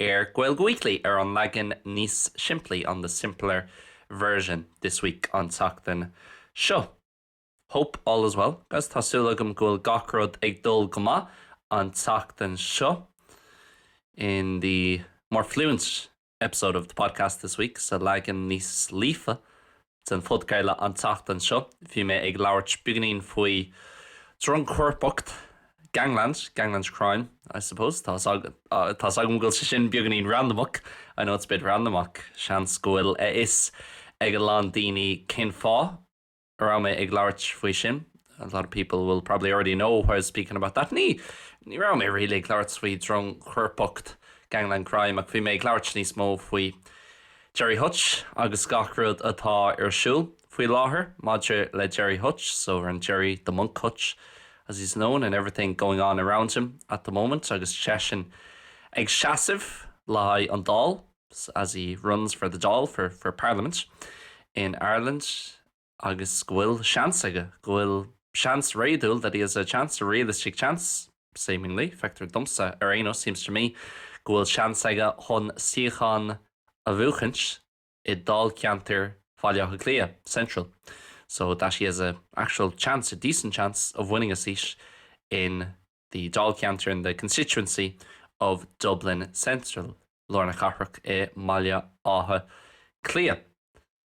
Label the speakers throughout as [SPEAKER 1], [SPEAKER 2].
[SPEAKER 1] ar Gaeilge Weekly ar an leagan níos simplí, on the simpler version, this week, an tseachtain seo. Hope all is well guys, tá súil agam go bhfuil gach rud ag dul go maith an tseachtain seo in the more fluent episode of the podcast this week, sa leagan níos líofa den phodcraoladh an tseachtain seo bhí mé ag labhairt beagainín faoi drongchoirpeacht, gangland, gangland crime I suppose, tá's agam go bhfuil sé sin beagainín randamach, I know it's a bit random ach seans go bhfuil a fhios ag a lán daoine cén fáth a raibh mé ag labhairt faoi sin, a lot of people will probably already know why I was speaking about that. Ní raibh mé really ag labhairt faoi drongchoirpeacht, gangland crime ach bhí mé ag labhairt níos mó faoi Gerry Hutch agus gach rud atá ar siúl faoi láthair maidir le Gerry Hutch, so around Gerry the Monk Hutch as he's known and everything going on around him at the moment agus seisean ag seasamh le haghaidh an Dáil as he runs for the Dáil, for Parliament in Ireland. agus go bhfuil seans aige, go bhfuil seans réadúil, that he has a chance, a realistic chance, seemingly, feictear domsa, ar aon nós, seems to me, go bhfuil seans aige chun suíochán a bhuachaint i dáilcheantar Bhaile Átha Cliath Central, so that he has a actual chance, a decent chance, of winning a seat in the dáilcheantar, in the constituency, of Dublin Central, Lár na Cathrach i mBaile Átha Cliath.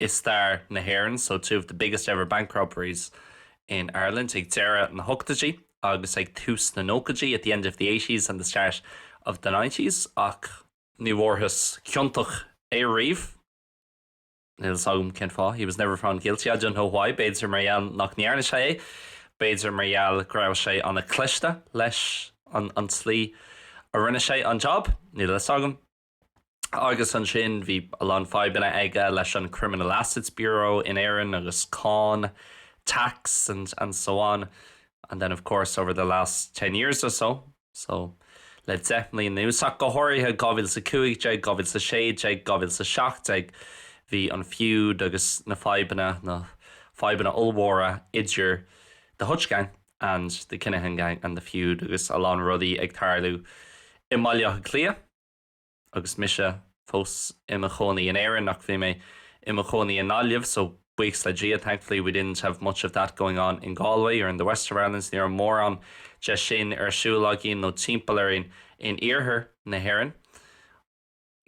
[SPEAKER 1] i stair na hÉireann, so two of the biggest ever bank robberies in Ireland ag deireadh na n-ochtóidí agus ag tús na nóchaidí at the end of the eighties and the start of the nineties ach ní bhfuarthas ciontach é riamh, níl a fhios agam cén fáth, he was never found guilty, I don't know why, b'fhéidir mar gheall nach ndearna sé é, b'fhéidir mar gheall go raibh sé an-chliste leis an tslí a rinne sé an jab, níl a fhios agam. Agus ansin bhí a lán fadhbanna aige leis an Criminal Assets Bureau in Éirinn agus cáin, tax and and so on. And then of course over the last ten years or so, so le deich mbliain anuas ach go háirithe, 2015, 2016, 2017, bhí an feud agus na fadhbanna, na fadhbanna ollmhóra idir the Hutch Gang and the Kinahan Gang and the feud agus a lán rudaí ag tarlú i mBaile Átha Cliath. Agus mise fós i mo chónaí in Éirinn, ach bhí mé i mo chónaí i nGaillimh, so buíochas le Dia, thankfully, we didn't have much of that going on in Galway or in the west of Ireland, ní raibh mórán de sin ar siúl againn nó timpeall orainn in iarthar na hÉireann.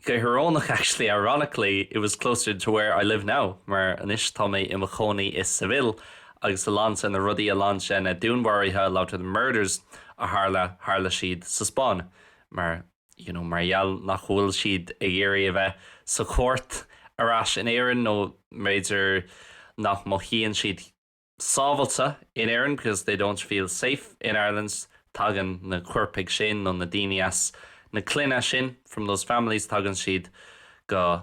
[SPEAKER 1] Go hiorónach, actually, ironically, it was closer to where I live now, mar anois tá mé i mo chónaí i Seville agus a lán de na rudaí, a lán de na dúnmharuithe, a lot of the murders, a tharla, tharla siad sa Spáinn. mar you know mar gheall nach bhfuil siad ag iarraidh a bheith sa chúirt ar ais in Éirinn nó mb'fhéidir nach mothaíonn siad sábháilte in Éirinn because they don't feel safe in Ireland tagann na coirpigh sin nó na daoine as na clanna sin from those families tagann siad go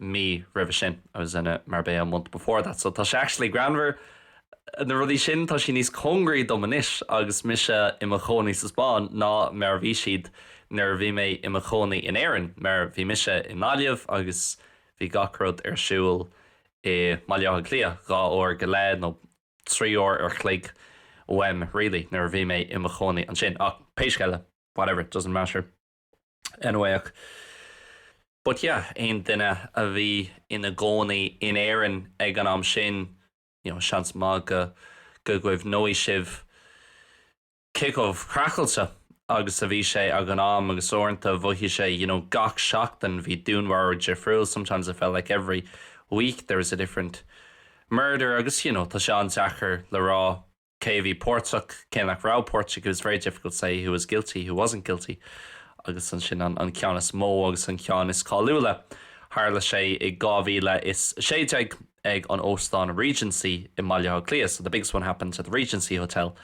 [SPEAKER 1] mí roimhe sin I was in Marbella a month before that so tá sé actually greannmhar na rudaí sin, tá siad níos cóngaraí dom anois agus mise i mo chónaí sa Spáinn ná mar a bhí siad nuair a bhí mé i mo chónaí in Éirinn mar bhí mise i nGaillimh agus bhí gach rud ar siúl i mBaile Átha Cliath dhá uair go leith nó trí uair ar chloig uaim really nuair a bhí mé i mo chónaí ansin ach pé scéal é whatever, doesn't matter. anyway, But yeah, aon duine a bhí ina gcónaí in Éirinn ag an am sin, you know, seans maith go, go gcuimhneoidh sibh cé chomh craiceáilte agus a bhí sé ag an am agus uaireanta mhothaigh sé, you know, gach seachtain bhí dúnmharú difriúil, sometimes it felt like every week there was a different murder agus, you know, tá sé an-deacair le rá. cé a bhí páirteach, cé nach raibh páirteach, it was very difficult to say who was guilty, who wasn't guilty, agus ansin an an ceann is mó agus an ceann is cáiliúla, tharla sé i 2016 ag an Óstán Regency i mBaile Átha Cliath, so the biggest one happened at the Regency Hotel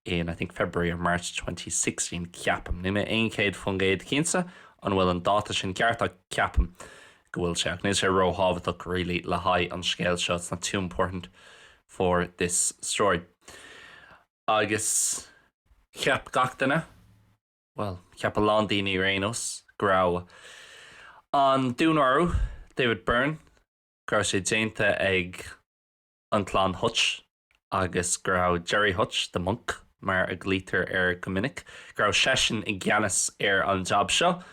[SPEAKER 1] in, I think, February or March 2016, ceapaim, níl mé céad faoin gcéad cinnte an bhfuil an dáta sin ceart ach ceapaim go bhfuil sé, ach níl sé ró-thábhachtach really le haghaidh an scéil seo, it's not too important for this story. Agus cheap gach duine, bhuel, cheap a lán daoine ar aon nós, go raibh an dúnmharú David Byrne, go raibh sé déanta ag an clann Hutch agus go raibh Gerry Hutch, the Monk mar a ghlaoitear air go minic, go raibh seisean i gceannas ar an jab seo.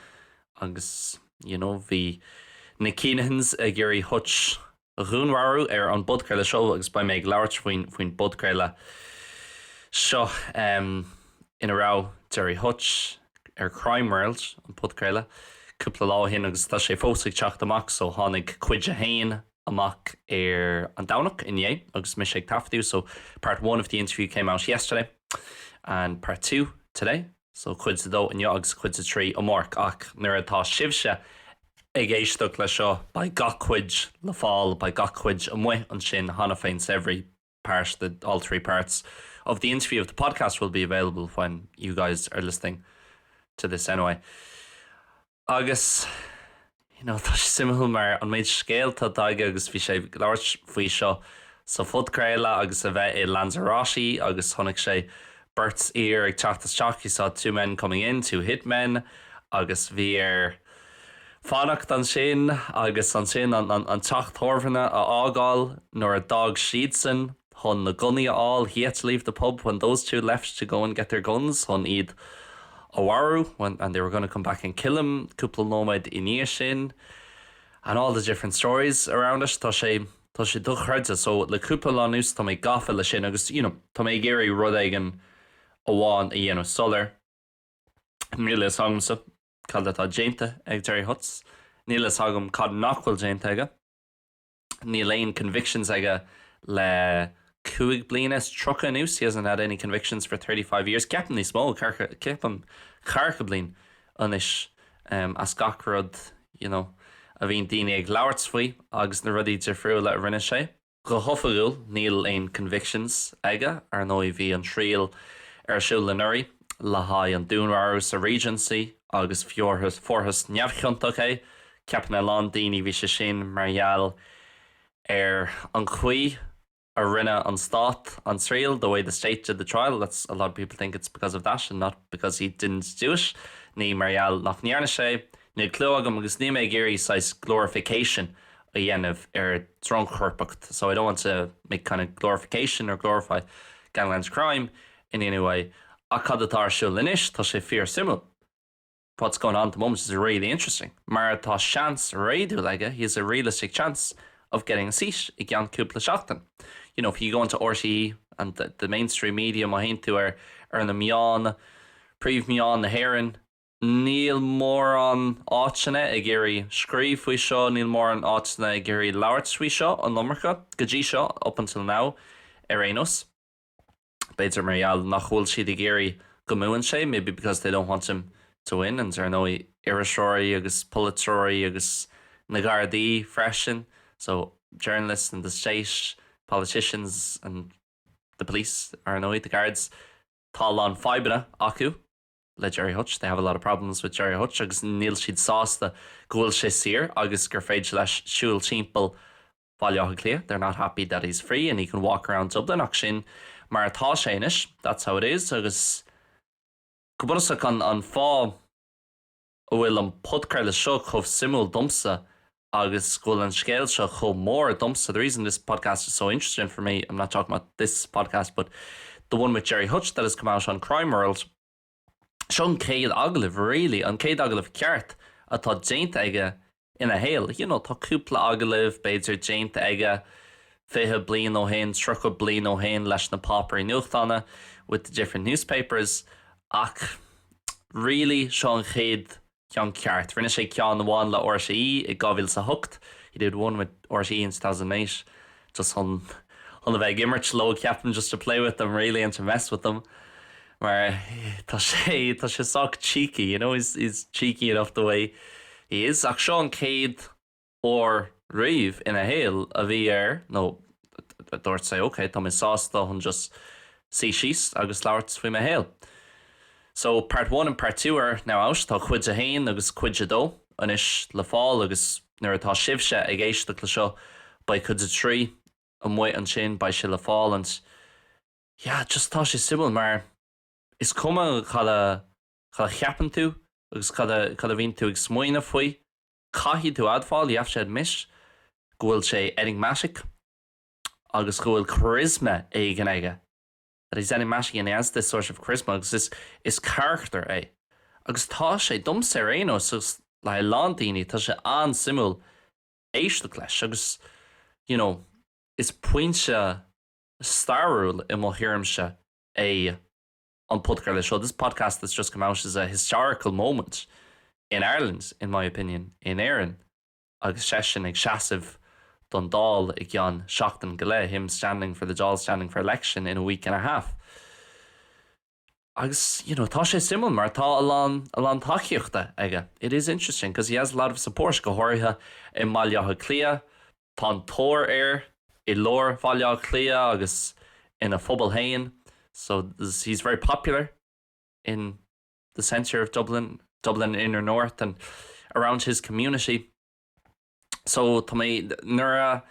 [SPEAKER 1] Agus, you know, bhí na Kinahans ag iarraidh Hutch a dhúnmharú ar an bpodchraoladh seo agus beidh mé ag labhairt faoin bpodchraoladh seo ina raibh Gerry Hutch ar Crime World, an podchraoladh, cúpla lá ó shin agus tá sé fós ag teacht amach so tháinig cuid a haon amach ar an Domhnach, inné, agus mise ag taifeadadh so part one of the interview came out yesterday and part two today. So Cuid a dó inniu agus Cuid a trí amárach ach nuair atá sibhse ag éisteacht le seo beidh gach cuid le fáil, beidh gach cuid amuigh ansin cheana féin so every part, the, all three parts of the interview of the podcast will be available when you guys are listening to this anyway. Agus you know tá sé suimiúil, mar an méid scéalta atá aige agus bhí sé ag labhairt faoi seo sa phodchraoladh agus a bheith i Lanzarote agus chonaic sé beirt fhear ag teacht isteach, he saw two men coming in, two hit men, agus bhí air fanacht ansin agus ansin an teach tábhairne a fhágáil nuair a d'fhág siadsan. chun na gunnaí a fháil, he had to leave the pub when those two left to go and get their guns chun iad a mharú, and they were going to come back and kill him cúpla nóiméad i ndiaidh sin, and all the different stories around it. Tá sé, tá sé dochreidte. So, le cúpla lá anuas, tá mé gafa leis sin agus, you know, tá mé ag iarraidh rud éigin amháin a dhéanamh soiléir. Níl a fhios agamsa cad atá déanta ag Gerry Hutch. Níl a fhios agam cad nach bhfuil déanta aige. Níl aon convictions aige le cúig bliana is tríocha anuas, he hasn't had any convictions for thirty five years. Ceapaim níos mó, ceapaim ceathracha bliain anois as gach rud you know a bhíonn daoine ag labhairt faoi agus na rudaí difriúla a rinne sé. Go hoifigiúil níl aon convictions aige, ar ndóigh bhí an triail ar siúl anuraidh le haghaidh an dúnmharú sa Regency agus fuarthas neamhchiontach é Ceapann a lán daoine bhí sé sin mar gheall ar an chaoi a rinne an stát an triail, the way the state did the trial, that's, a lot of people think it's because of that and not because he didn't do it, ní mar gheall nach ndearna sé. Níl clue agam agus níl mé ag iarraidh saghas glorification a dhéanamh ar dhrongchoirpeacht, so I don't want to make kind of glorification or glorify gangland crime in any way, ach cad atá ar siúl anois, tá sé fíor-suimiúil. what's going on at the moment is really interesting mar tá seans réadúil aige he has a realistic chance of getting a seat i gceann cúpla seachtain. You know, if you go into RTÉ and the, the mainstream media má théann tú ar, ar na meáin, príomh-mheáin na hÉireann, níl mórán áiteanna ag iarraidh scríobh faoi seo, níl mórán áiteanna ag iarraidh labhairt faoi seo an iomarca, go dtí seo, up until now, ar aon nós. B'fhéidir mar gheall nach bhfuil siad ag iarraidh go mbuann sé, maybe because they don't want him to win, and ar ndóigh iriseoirí agus polaiteoirí agus na Gardaí freisin, so journalists and the state, politicians and the police, ar ndóigh, the guards, tá a lán fadhbanna acu le Gerry Hutch, they have a lot of problems with Gerry Hutch agus níl siad sásta go bhfuil sé saor agus gur féidir leis siúl timpeall Bhaile Átha Cliath, they're not happy that he's free and he can walk around Dublin ach sin mar atá sé anois, that's how it is agus go bunúsach an fáth a bhfuil an podchraoladh seo chomh suimiúil domsa agus go bhfuil an scéal seo chomh mór domsa, the reason this podcast is so interesting for me, I'm not talking about this podcast but the one with Gerry Hutch that has come out on Crime World. Seo an chéad agallamh really, an chéad agallamh ceart atá déanta aige ina shaol. You know, tá cúpla agallamh b'fhéidir déanta aige fiche bliain ó shin, tríocha bliain ó shin leis na páipéirí nuachtána, with the different newspapers, ach really seo an chéad ceann ceart. Rinne sé ceann amháin le RTÉ i 2008, he did one with RTÉ in 2008, just chun, chun a bheith ag imirt leo, ceapaim, just to play with them really and to mess with them, mar tá sé, tá sé sách cheeky, you know, he's, he's cheeky enough the way he is. Ach seo an chéad. uair riamh ina shaol a bhí air nó a dúirt sé ok, tá mé sásta chun just suí síos agus labhairt faoi mo shaol. So, part one and part two are now out, tá cuid a haon agus cuid a dó anois le fáil agus nuair atá sibhse ag éisteacht le seo, beidh cuid a trí amuigh ansin, beidh sé le fáil and yeah, just tá sé suimiúil mar is cuma cad a, cad a cheapann tú agus cad a, cad a bhíonn tú ag smaoineamh faoi, Caithfidh tú admháil, you have to admit, go bhfuil sé enigmatic agus go bhfuil charisma éigin aige, that he's enigmatic and he has this sort of charisma agus is, is carachtar é. Agus tá sé, domsa ar aon nós agus le a lán daoine, tá sé an-suimiúil éisteacht leis agus, you know, is pointe stairiúil i mo thuairimse é. an podchraoladh seo, this podcast that's just come out is a historical moment in Ireland, in my opinion, in Éirinn agus seisean ag seasamh don Dáil i gceann seachtain go leith, him standing for the Dáil standing for election in a week and a half. Agus, you know, tá sé suimiúil mar tá a lán, a lán tacaíochta aige. It is interesting because he has a lot of support go háirithe i mBaile Átha Cliath, Tá an-tóir air i lár Bhaile Átha Cliath agus ina phobal féin, so he's very popular in the centre of Dublin, Dublin inner north and around his community. So tá mé, nuair a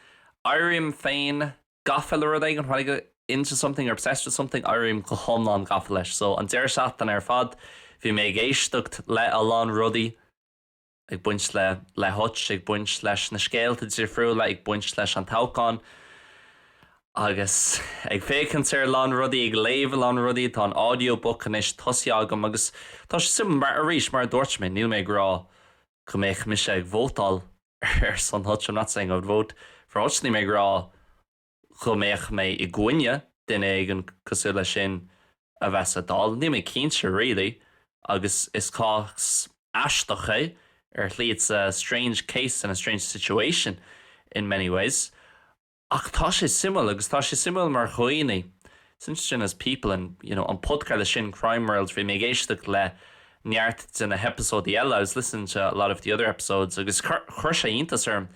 [SPEAKER 1] éirím féin gafa le rud éigin, when I get into something or obsessed with something, éirím go hiomlán gafa leis. So an deireadh seachtaine ar fad bhí mé ag éisteacht le a lán rudaí, ag baint le le Hutch, ag baint leis na scéalta difriúla, ag baint leis an toghchán agus ag féachaint ar a lán rudaí, ag léamh a lán rudaí. Tá an audiobook anois tosaithe agam agus tá sé suimiúil mar, arís, mar a dúirt mé, níl mé ag rá go mbeadh mise ag vótáil ar son Hutch, I'm not saying I would vote for Hutch, níl mé ag rá, go mbeadh mé i gcoinne duine éigin cosúil leis sin a bheith sa Dáil. Níl mé cinnte really, agus is cás aisteach é ar shlí, it's a strange case and a strange situation in many ways. Ach tá sé suimiúil, agus tá sé suimiúil mar dhaoine, it's interesting as people and you know an podchraoladh sin Crime World, bhí mé ag éisteacht le neart de na heipeasóidí eile, I was listening to a lot of the other episodes, agus chuir sé iontas orm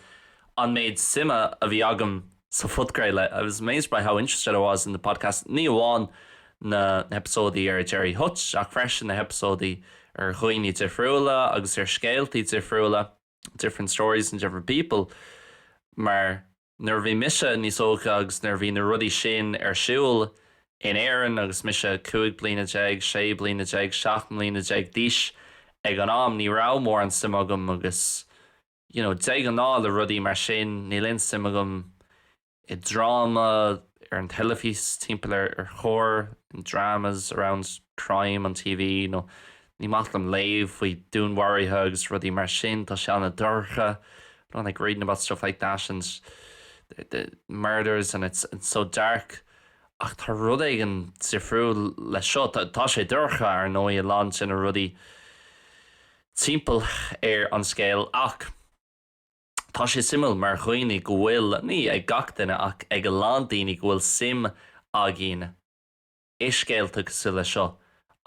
[SPEAKER 1] an méid suime a bhí agam sa phodcraoladh I was amazed by how interested I was in the podcast ní amháin na heipeasóidí ar Gerry Hutch ach freisin na heipeasóidí ar dhaoine difriúla agus ar scéaltaí difriúla different stories and different people mar nuair a bhí mise níos óige agus nuair a bhí na rudaí sin ar siúl in Éirinn agus mise cúig bliana déag, sé bliana déag, seacht mbliana déag d'aois ag an am ní raibh mórán suim agam agus. you know, de ghnáth le rudaí mar sin, níl aon suim agam i dráma ar an teilifís timpeall ar choir, in dramas around crime on TV, nó ní maith liom léamh faoi dúnmharuithe agus rudaí mar sin, tá sé an-dorcha, I don't like reading about stuff like that and the, the murders and it's, it's so dark. Ach tá rud éigin difriúil leis seo, tá, tá sé dorcha, ar ndóigh, a lán de na rudaí, timpeall ar an scéal ach tá sé suimiúil mar dhaoine go bhfuil, ní ag gach duine ach ag a lán daoine go bhfuil suim againn i scéalta cosúil leis seo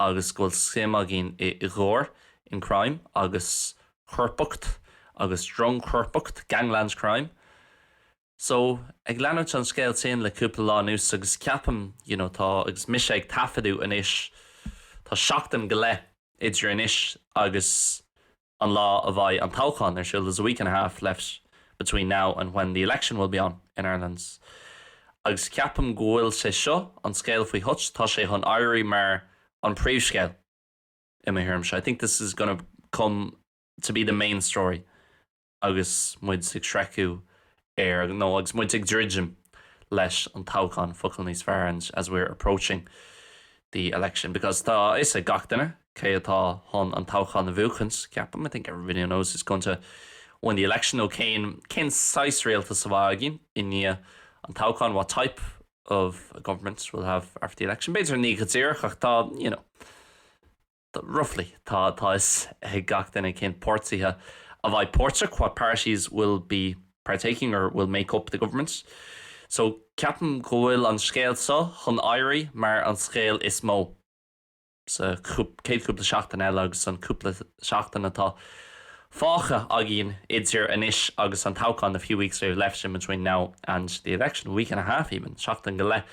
[SPEAKER 1] agus go bhfuil suim againn i gcoir, in crime, agus coirpeacht agus drongchoirpeacht, gangland crime. So, ag leanúint an scéal sin le cúpla lá anuas agus ceapaim, you know, tá, agus mise ag taifeadadh anois, tá seachtain go leith idir anois agus an lá a bheidh an toghchán ar siúl, there's a week and a half left between now and when the election will be on in Ireland. Agus ceapaim go bhfuil sé seo, an scéal faoi Hutch, tá sé chun éirí mar an príomhscéal, i mo thuairimse, I think this is gonna come to be the main story. agus muid ag sroicheadh ar, nó agus muid ag druidim leis an toghchán, focal níos fearr ann as we're approaching the election because tá a fhios ag gach duine cé atá chun an toghchán a bhuachaint, ceapaim, I think everybody knows who's going to win the election nó cén cén saghas rialtas a bheidh againn i ndiaidh an toghchán, what type of government we'll have after the election. B'fhéidir ní go díreach ach tá, you know. roughly, tá a fhios ag gach duine cén páirtithe a bheidh páirteach what parties will be partaking or will make up the government so ceapaim go bhfuil an scéal seo chun éirí mar an scéal is mó sa chéad chúpla seachtain eile agus an cúpla seachtain atá fágtha againn idir anois agus an toghchán a few weeks we have left in between now and the election, a week and a half even, seachtain go leith.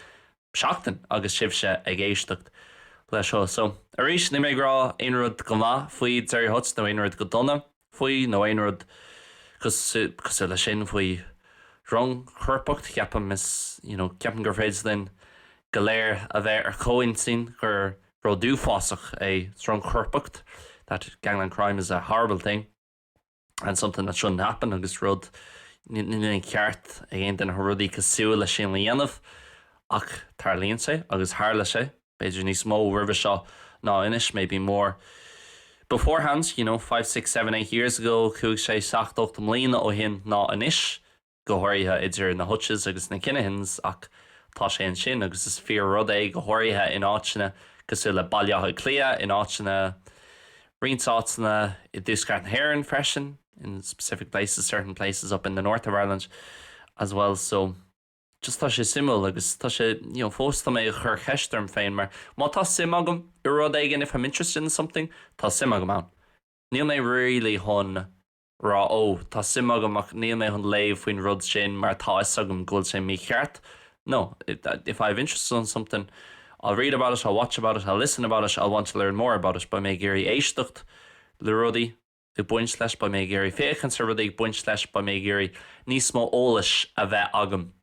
[SPEAKER 1] seachtain agus sibhse ag éisteacht leis seo. So, arís, níl mé ag rá aon rud go maith faoi Gerry Hutch nó aon rud go dona faoi nó aon rud cosúil leis sin faoi dhrongchoirpeacht. Ceapaim, is, you know, ceapaim gur féidir linn go léir a bheith ar comhintinn gur rud uafásach é drongchoirpeacht, that gangland crime is a horrible thing. and something that shouldn't happen agus rud ní ceart ag aon duine rudaí cosúil leis sin a dhéanamh ach tarlaíonn sé agus tharla sé b'fhéidir níos mó roimhe seo ná anois maybe more beforehand, you know, five, six, seven, eight years ago, cúig, sé, seacht, ocht mbliana ó shin ná anois. go háirithe idir na Hutches agus na Kinahans, ach tá sé ansin agus is fíor rud é, go háirithe in áiteanna cosúil le Baile Átha Cliath, in áiteanna, roinnt áiteanna i dtuaisceart na hÉireann freisin, in specific places, certain places up in the north of Ireland as well. So, just tá sé suimiúil agus tá sé, you know, fós tá mé ag cur cheist orm féin mar má tá suim agam i rud éigin, if I'm interested in something, tá suim agam ann. Níl mé really chun. rá ó, tá suim agam ach níl mé chun léamh faoin rud sin mar tá 'fhios agam go bhfuil sé mícheart nó if I have interest in something I'll read about it, I'll watch about it, I'll listen about it, I'll want to learn more about it beidh mé ag iarraidh éisteacht le rudaí ag baint leis, beidh mé ag iarraidh féachaint ar rudaí ag baint leis, beidh mé ag iarraidh níos mó eolais a bheith agam.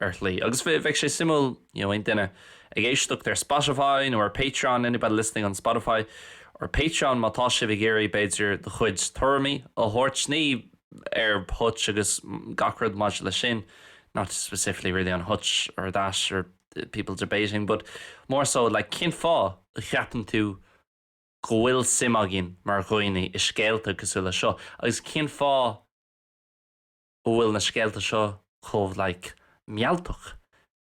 [SPEAKER 1] ar shlí. Agus beidh sé suimiúil, you know, aon duine ag éisteacht ar Spotify nó ar Patreon, anybody listening on Spotify or Patreon, má tá sibh ag iarraidh, b'fhéidir, de chuid tuairimí a thabhairt, ní ar Hutch agus gach rud maidir leis sin, not specifically really on Hutch or that or people debating, but more so, like, cén fáth a cheapann tú go bhfuil suim againn mar dhaoine i scéalta cosúil leis seo agus cén fáth, go bhfuil na scéalta seo chomh like mealltach,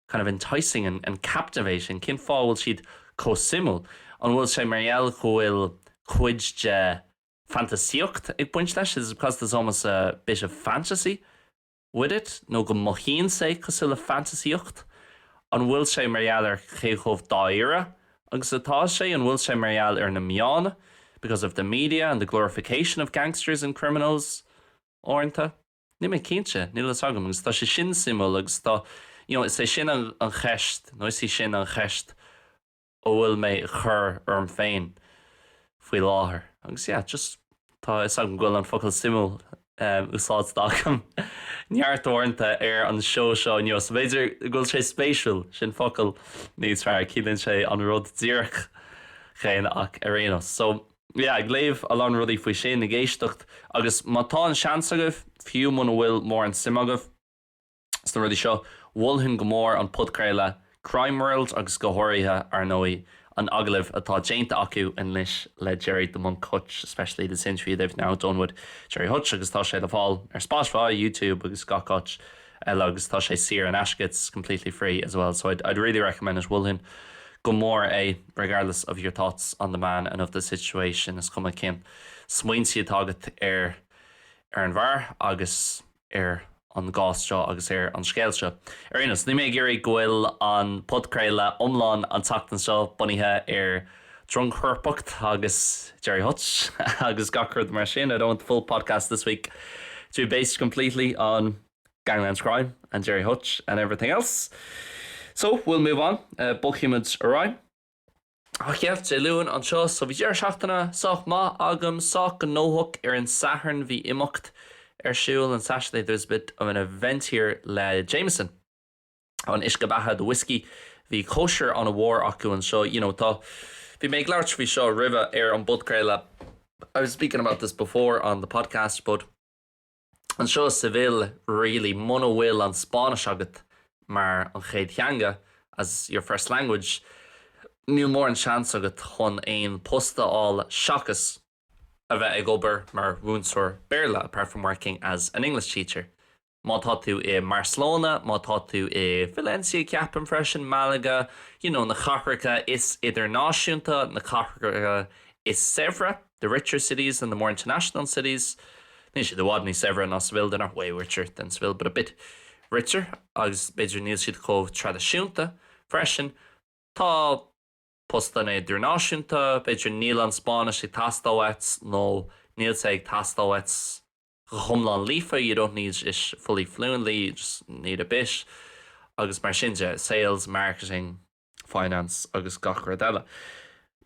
[SPEAKER 1] kind of enticing and captivating, cén fáth a bhfuil siad chomh suimiúil? An bhfuil sé mar gheall go bhfuil cuid de fantaisíocht ag baint leis, is it because there's almost a bit of fantasy with it, nó go mothaíonn sé cosúil le fantaisíocht? An bhfuil sé mar gheall ar cé chomh dáiríre agus atá sé? An bhfuil sé mar gheall ar na meána, because of the media and the glorification of gangsters and criminals? uaireanta. Níl mé cinnte, níl fhios agam agus tá sé sin suimiúil agus tá, you know, is é sin an, an cheist, nó is í sin an cheist a bhfuil mé ag cur orm féin faoi láthair agus yeah, just tá fhios agam go bhfuil an focal suimiúil úsáidte agam neart uaireanta ar an seó seo inniu, so b'fhéidir go bhfuil sé spéisiúil, sin focal níos fearr, ciallaíonn sé an rud díreach chéanna ach ar aon nós. So. yeah, ag léamh a lán rudaí faoi sin, ag éisteacht agus má tá an seans agaibh, fiú muna bhfuil mórán suim agaibh sna rudaí seo, mholfainn go mór an podchraoladh Crime World agus go háirithe, ar ndóigh, an agallamh atá déanta acu anois le Gerry 'The Monk' Hutch, especially this interview they've now done with Gerry Hutch agus tá sé le fáil ar Spotify, YouTube agus gach áit. eile agus tá sé saor in aisce, it's completely free as well, so I'd I'd really recommend it, mholfainn go mór é, regardless of your thoughts on the man and of the situation, is cuma cén smaointe atá agat ar ar an bhfear agus ar an gcás seo agus ar an scéal seo. Ar aon nós, níl mé ag iarraidh go bhfuil an podchraoladh iomlán an tseachtain seo bunaithe ar drongchoirpeacht agus Gerry Hutch agus gach rud mar sin, I don't want the full podcast this week to be based completely on Gangland Crime and Gerry Hutch and everything else. So, we'll move on, uh, bogfaimid ar aghaidh. Ach yeah, Dé Luain anseo, so bhí deireadh seachtaine sách maith agam, sách gnóthach ar an Satharn bhí imeacht ar siúl on Saturday there's a bit of an event here le Jameson. an uisce beatha, the whiskey. Bhí cóisir ana mhór acu anseo, you know, tá, bhí mé ag labhairt faoi seo roimhe ar an bpodchraoladh, I was speaking about this before on the podcast, but anseo i Seville, really, muna bhfuil an Spáinnis agat mar an chéad theanga, as your first language, níl mórán seans agat chun aon post a fháil seachas a bheith ag obair mar mhúinteoir Béarla, apart from working as an English teacher. Má tá tú i mBarcelona, má tá tú i Valencia ceapaim freisin, Malaga, you know na cathracha is idirnáisiúnta, na cathracha is saibhre, the richer cities and the more international cities, níl siad i bhfad níos saibhre ná Seville, they're not way richer than Seville but a bit richer agus b'fhéidir níl siad chomh traidisiúnta freisin. Tá postanna idirnáisiúnta, b'fhéidir níl an Spáinnis ag teastáil uait nó níl sé ag teastáil uait, go hiomlán líofa, you don't need it fully fluently, you just need a bit, agus mar sin de, sales, marketing, finance agus gach rud eile,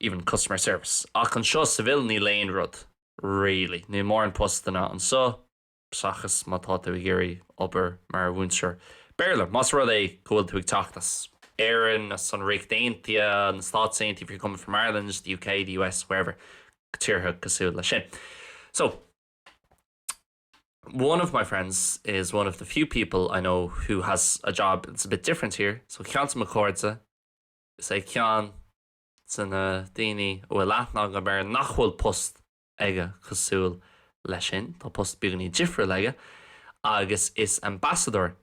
[SPEAKER 1] even customer service. Ach anseo i Seville níl aon rud, really. Níl mórán postanna anseo, seachas má tá tú ag iarraidh obair mar mhúinteoir Béarla, más rud é go bhfuil tú ag teacht as Éirinn, as an Ríocht Aontaithe, na Stáit Aontaithe, if you're coming from Ireland, the UK, the US, wherever, tíortha cosúil leis sin. So. One of my friends is one of the few people I know who has a job that's a bit different here, so ceann de mo chairde, is é ceann de na daoine a bhfuil aithne agam air nach bhfuil post aige cosúil leis sin, tá post beagáinín difriúil aige, agus is ambassador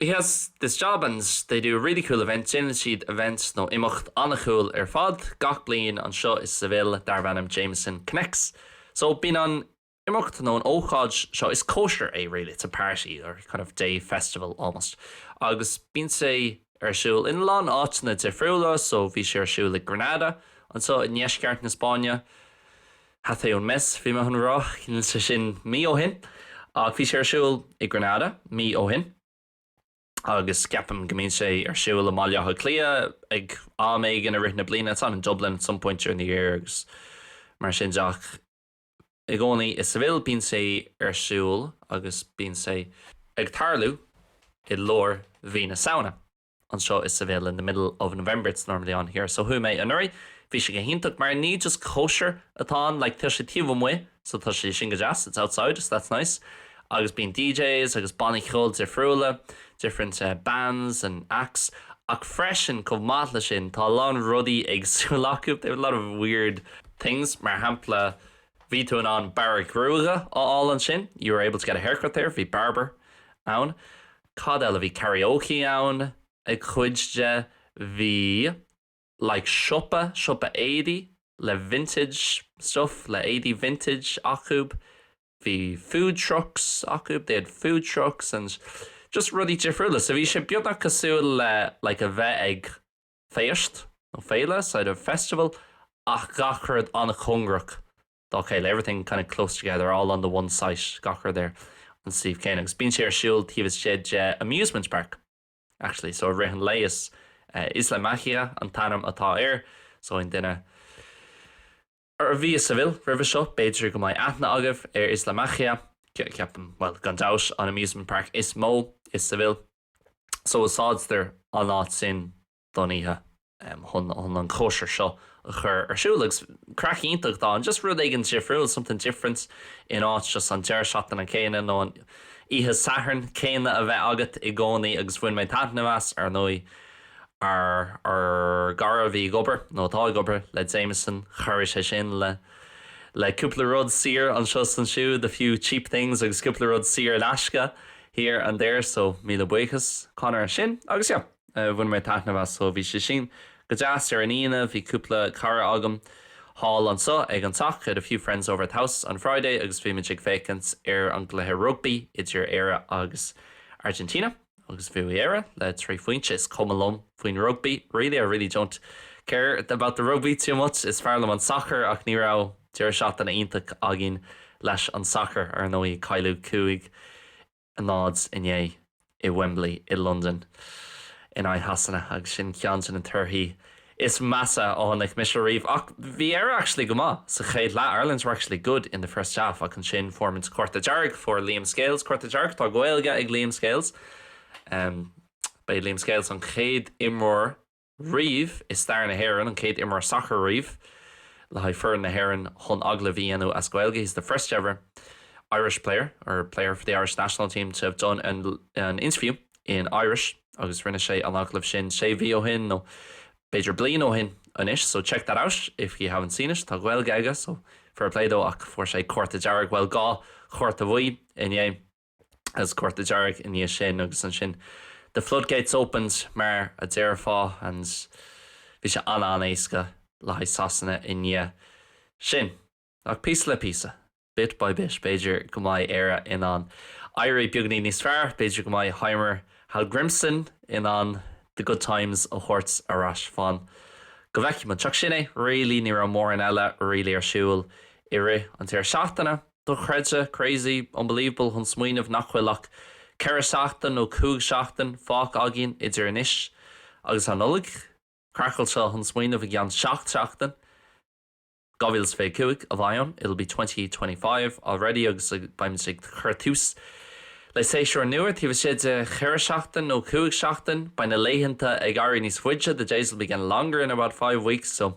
[SPEAKER 1] He has this job and they do really cool events, déanann siad event nó imeacht an-cool ar fad gach bliain anseo i Seville darb ainm Jameson Connects. So bíonn an imeacht nó an ócáid seo, is cóisir é really, it's a party or kind of day festival almost, agus bíonn sé ar siúl in a lán áiteanna difriúla, so bhí sé ar siúl i Granada anseo i ndeisceart na Spáinne, Hace un mes, bhí mé chun a rá, níl sé sin mí ó shin, ach bhí sé ar siúl i Granada mí ó shin agus ceapaim go mbíonn sé ar siúl i mBaile Átha Cliath ag am éigin i rith na bliana, it's on in Dublin at some point during the year agus mar sin de ach i gcónaí i Seville bíonn sé ar siúl agus bíonn sé ag tarlú i lár mhí na Samhna. anseo i Seville in the middle of November it's normally on here so chuaigh mé anuraidh bhí sé go hiontach mar ní just cóisir atá ann like tá sé taobh amuigh so tá sé sin go deas it's outside so that's nice agus bíonn DJs agus bannaí ceoil difriúla different uh, bands and acts ach freisin chomh maith le sin tá a lán rudaí éagsúil acu they have a lot of weird things mar shampla bhí tú in ann bearradh gruaige a fháil ansin you were able to get a haircut there bhí barber ann Cad eile? Bhí karaoke ann ag cuid de, bhí like siopa, siopa éadaí le vintage stuff, le éadaí vintage acu, bhí food trucks acu, they had food trucks and just rudaí difriúla. So bhí sé beagnach cosúil le like a bheith ag féist nó féile, sort of festival ach gach rud an-chóngarach dá chéile, everything kind of close together, all on the one site, gach rud ar an suíomh céanna, agus bíonn sé ar siúl taobh istigh de amusement park, actually, so i rith an lae, is eh, Isla Mágica an t-ainm atá air, so aon duine a bhí i Seville roimhe seo, b'fhéidir go mbeidh aithne agaibh ar Isla Mágica, ceapaim, bhuel, gan dabht, an amusement park is mó i Seville, so úsáidtear an áit sin. don oíche chun an chóisir seo a chur ar siúl agus craic iontach atá ann, just rud éigin difriúil, something different in áit just an deireadh seachtaine céanna nó an oíche Sathairn céanna a bheith agat i gcónaí agus bhain mé taitneamh as, ar ndóigh. Ár, ár gcara a bhí ag obair, nó atá ag obair, le Jameson, chabhraigh sé sin le le cúpla rud saor anseo is ansiúd, a few cheap things agus cúpla rud saor in aisce here and there, so míle buíochas Conor as sin agus yeah. Bhain mé taitneamh as, so bhí sé sin go deas. Ar an Aoine bhí cúpla cara agam thall anso ag an teach, I had a few friends over at the house on Friday agus bhí muid ag féachaint ar an gcluiche rugbaí idir Éire agus Argentina agus bhuaigh Éire le trí phointe. Is cuma liom faoin rugbaí really, I really don't care about the rugby too much, is fearr liom an sacar ach ní raibh deireadh seachtaine iontach againn leis an sacar, ar ndóigh ag cailleadh cúig 0 inné i Wembley i Londain in aghaidh Shasana agus sin ceann de na torthaí is measa a chonaic mise riamh ach bhí Éire actually go maith sa chéad leath, Ireland were actually good in the first half ach ansin fuair muid cárta dearg, fuair Liam Scales cárta dearg, tá Gaeilge ag Liam Scales, ba é Liam Scales an chéad imreoir. riamh i stair na hÉireann, an chéad imreoir sacair riamh le haghaidh foireann na hÉireann chun agallamh a dhéanamh as Gaeilge he's the first ever Irish player or player for the Irish national team to have done an interview in Irish agus rinne sé an agallamh sin sé mhí ó shin nó b'fhéidir bliain ó shin anois so check that out if you haven't seen it tá Gaeilge aige so fair play dó ach fuair sé cárta dearg bhuel dhá chárta bhuí inné. is cárta dearg i ndiaidh sin agus ansin the floodgates opened mar a déarfá and bhí sé an-an-éasca le haghaidh Sasana i ndiaidh sin. Ach píosa le píosa, bit by bit, b'fhéidir go mbeidh Éire in ann éirí beagainín níos fearr, b'fhéidir go mbeidh Heimir Hallgrimsson in ann the good times a thabhairt ar ais fan go bhfeicfimid. Ach sin é really, ní raibh mórán eile really ar siúl i rith an deireadh seachtaine. Dochreidte, crazy, unbelievable chun smaoineamh nach bhfuil ach ceithre seachtain nó cúig seachtain fágtha againn idir anois agus an Nollaig. Craiceáilte chun smaoineamh i gceann seacht seachtain, 2025, a bheidh ann, it'll be twenty twenty five already agus beimid ag cur tús le séasúr nua taobh istigh de cheithre seachtain nó cúig seachtain. Beidh na laethanta ag éirí níos faide, the days will be getting longer in about five weeks, so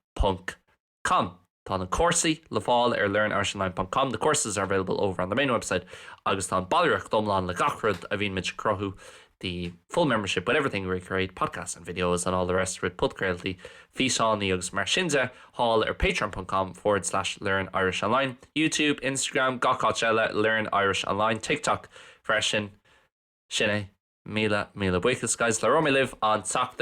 [SPEAKER 1] ponc com Tá na cúrsaí le fáil ar learnirishonline ponc com The courses are available over on the main website agus tá an ballraíocht iomlán le gach rud a bhíonn muid ag cruthú The full membership with everything we create, podcasts and videos and all the rest of it podchraoltaí, físeánaí agus mar sin de, thall ar patreon ponc com forward slash learnirishonline Youtube, Instagram, gach áit eile Learn Irish Online, TikTok freisin Sin é. Míle, míle buíochas guys labhróidh mé libh an tseachtain.